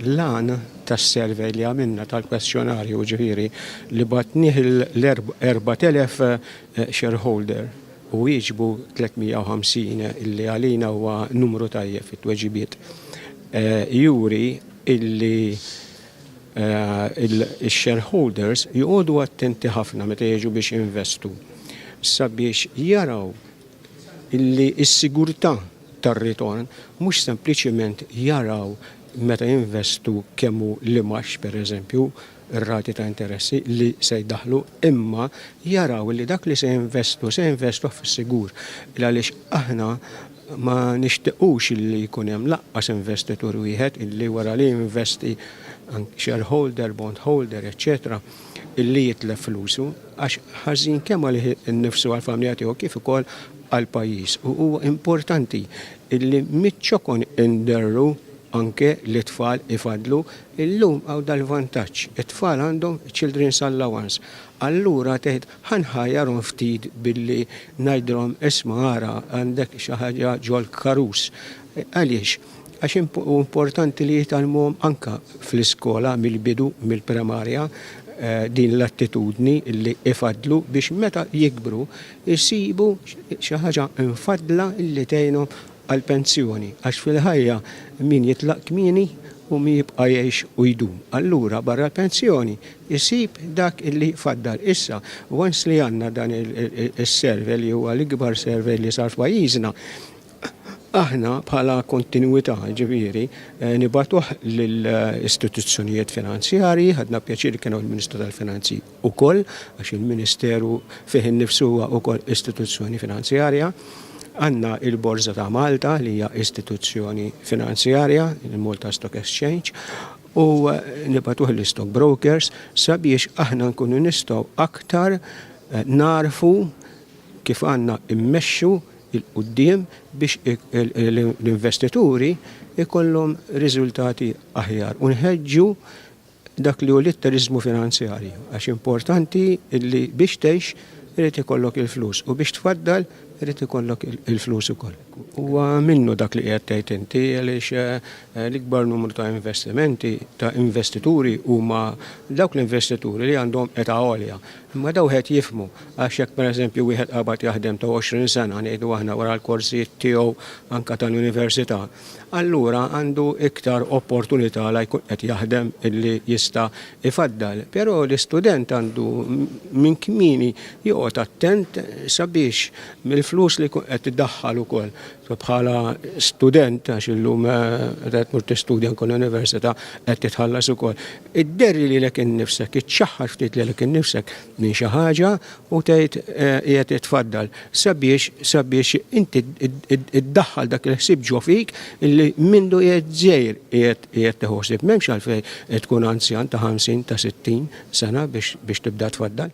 L-għan tas-survey li għamilna tal-kwestjonarju ġifieri li batnieh l-4,000 shareholder u wieġbu 350 li għalina huwa numru tajjeb fit-tweġibiet juri illi x-shareholders joqogħdu attenti ħafna meta jiġu biex jinvestu sabiex jaraw illi s-sigurtà tar-ritorn mhux sempliċement jaraw meta jinvestu kemm hu l-imgħax, pereżempju, ir-rati ta' interessi li se jdaħħlu, imma jaraw li dak li se jinvestu se jinvestuh fis-sigur. Għaliex aħna ma nixtiqux li jkun hemm lanqas investitur wieħed li wara li jinvesti, shareholder, bondholder, eċċetera, li jitlef flusu għax ħażin kemm għalih innifsu għall-familja tiegħu kif ukoll għall-pajjiż u huwa importanti li miċ-ċokon inderru anke li t-tfal ifadlu, illum hawn dal-vantaġġ, it-tfal għandhom children's allowance, allura tgħid ħa nħajjarhom ftit billi ngħidilhom isma' ara għandek xi ħaġa ġol-karus. Għaliex? għax hu importanti li jitgħallmuhom anke fl-iskola mill-bidu, mill-primarja, din l-attitudni li ifaddlu biex meta jikbru jsibu xi ħaġa mfaddla li tgħinhom għall-pensjoni għax fil-ħajja min jitlaq kmieni hu min jibqa' jgħix u jdum. Allura barra l-pensjoni jsib dak li jfaddal. Issa, once li għandna dan is-survey li huwa l-ikbar survey li sar f'pajjiżna, Aħna bħala kontinwità, jiġifieri, nibagħtuh lill-istituzzjonijiet finanzjarji, ħadna pjaċir li kien hawn il-Ministru tal-Finanzi wkoll, għax il-Ministeru fih innifsu huwa wkoll istituzzjoni finanzjarja. Għandna l-Borża ta' Malta li hija istituzzjoni finanzjarja, il-Malta Stock Exchange, u nibagħtuh lill-istockbrokers sabiex aħna nkunu nistgħu aktar nagħrfu kif għandna mmexxu 'il quddiem biex l-investituri jkollhom riżultati aħjar u nħeġġu dak li hu l-litteriżmu finanzjarju għax importanti li biex tgħix irid ikollok il-flus u biex tfaddal irid ikollok il-flus ukoll. Huwa minnu dak li qiegħed tgħid inti għaliex l-ikbar numru ta' investimenti ta' investituri huma dawk l-investituri li għandhom età għolja. Imma dawn qed jifhmu, għax jekk pereżempju wieħed qabad jaħdem ta' għoxrin sena, ngħidu aħna, wara l-korsijiet tiegħu anke tal-università, allura għandu iktar opportunità la jkun qed jaħdem illi jista' jfaddal. Però l-istudent għandu minn kmieni joqgħod attent sabiex mill-flus li jkun qed idaħħal ukoll Bħala student, għax illum qed eh, mur tistudja anke l-università qed titħallas ukoll. Idderri li lek innifsek, iċċaħħar ftit li lek innifsek minn xi ħaġa u tgħid eh, qiegħed itfaddal sabiex sabiex inti iddaħħal dak il-ħsieb ġo fik illi mindu qiegħed żejr qiegħed teħosib. M'hemmx għalfejn tkun anzjan ta' 50 ta' 60 sena biex tibda tfaddal.